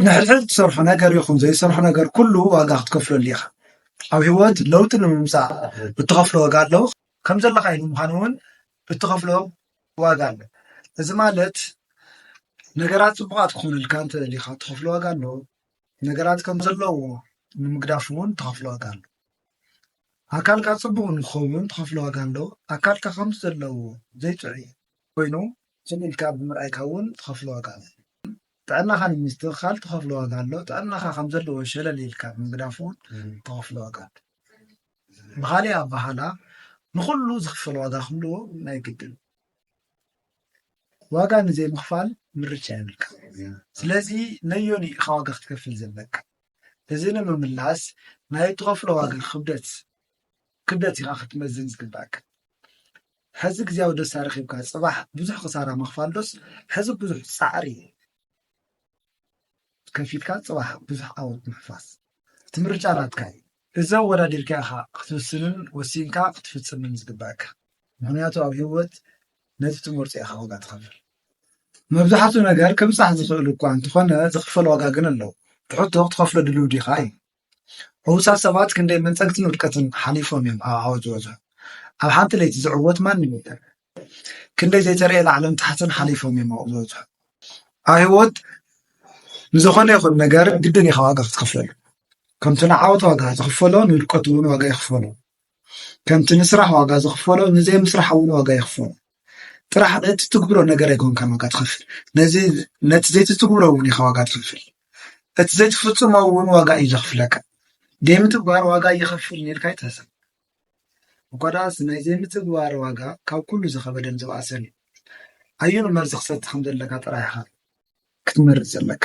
ንሕድሕድ ትሰርሖ ነገር ይኹን ዘይትሰርሖ ነገር ኩሉ ዋጋ ክትከፍለሉ ኢኻ። ኣብ ህይወት ለውጢ ንምምፃእ እትኸፍሎ ዋጋ ኣሎ። ከም ዘለኻ ንምዃን እውን እትኸፍሎ ዋጋ ኣሎ። እዚ ማለት ነገራት ፅቡቓት ክኾኑልካ እንተደሊኻ እትኸፍሎ ዋጋ ኣሎ። ነገራት ከም ዘለዎ ንምግዳፍ እውን እትኸፍሎ ዋጋ ኣሎ። ኣካልካ ፅቡቕ ንክኸውን እትኸፍሎ ዋጋ ኣሎ። ኣካልካ ከም ዘለዎ ዘይጥዑይ ኮይኑ ስቕ ኢልካ ብምርኣይካ እውን እትኸፍሎ ዋጋ ኣሎ። ጥዕናኻ ንምስትኽኻል ትኸፍሎ ዋጋ ኣሎ፣ ጥዕናኻ ከም ዘለዎ ሸለል ኢልካ ንምግዳፍ እውን ትኸፍሎ ዋጋ ኣሎ። ብኻሊእ ኣባሃላ ንኹሉ ዝኽፈል ዋጋ ክህልዎ ናይ ግድን ዋጋ ንዘይምኽፋል ምርጫ የብልካ። ስለዚ ነዮኒ ኢኻ ዋጋ ክትከፍል ዘለካ? እዚ ንምምላስ ናይ እትኸፍሎ ዋጋ ክብደት ክብደት ኢኻ ክትመዝን ዝግባእካ። ሐዚ ግዝያዊ ደስታ ረኪብካ ፅባሕ ብዙሕ ክሳራ ምክፋል ዶስ ሐዚ ብዙሕ ፃዕሪ ከፊልካ ፅባሕ ብዙሕ ዓወት ምሕፋስ እቲ ምርጫ ናትካ እዩ። እዚ ኣወዳዲርካ ኢካ ክትውስንን ወሲንካ ክትፍፅምን ዝግበኣካ ምክንያቱ ኣብ ሂወት ነቲ ትመርፆ ኢካ ዋጋ ትከፍል መብዛሕቱ ነገር ክብፃሕ ዝክእል እኳ እንተኮነ ዝክፈል ዋጋ ግን ኣሎ እቲ ሕቶ ክትከፍሎ ድልው ዲካ እዩ። ሕዉሳት ሰባት ክንደይ መንጸግትን ዉድቀትን ሓሊፎም እዮም ኣብ ዓወት ዝበጽሑ። ኣብ ሓንቲ ለይቲ ዝዕወት ማንም የለን። ክንደይ ዘይተረእየ ላዕልን ታሕትን ሓሊፎም እዮም ኣብኡ ዝበጽሑ። ኣብ ህይወት ንዝኾነ ይኹን ነገር ግድን ኢኻ ዋጋ ክትኸፍለሉ። ከምቲ ንዓወት ዋጋ ዝኽፈሎ ንውድቀት እውን ዋጋ ይኽፈሎ። ከምቲ ንስራሕ ዋጋ ዝኽፈሎ ንዘይምስራሕ እውን ዋጋ ይኽፈሎ። ጥራሕ እቲ ትግብሮ ነገር ኣይኮንካን ዋጋ ትኸፍል፣ ነዚ ነቲ ዘይትትግብሮ እውን ኢኻ ዋጋ ትኸፍል። እቲ ዘይትፍጽሞ እውን ዋጋ እዩ ዘኽፍለካ። ዘይምትግባር ዋጋ እየኸፍል ኢልካ ኣይትሕሰብ። እኳ ደኣስ ናይ ዘይምትግባር ዋጋ ካብ ኩሉ ዝኸበደን ዝበኣሰን እዩ። ኣየኑ መርዚ ክሰቲ ከም ዘለካ ጥራሕ ኢኻ ክትመርጽ ዘለካ።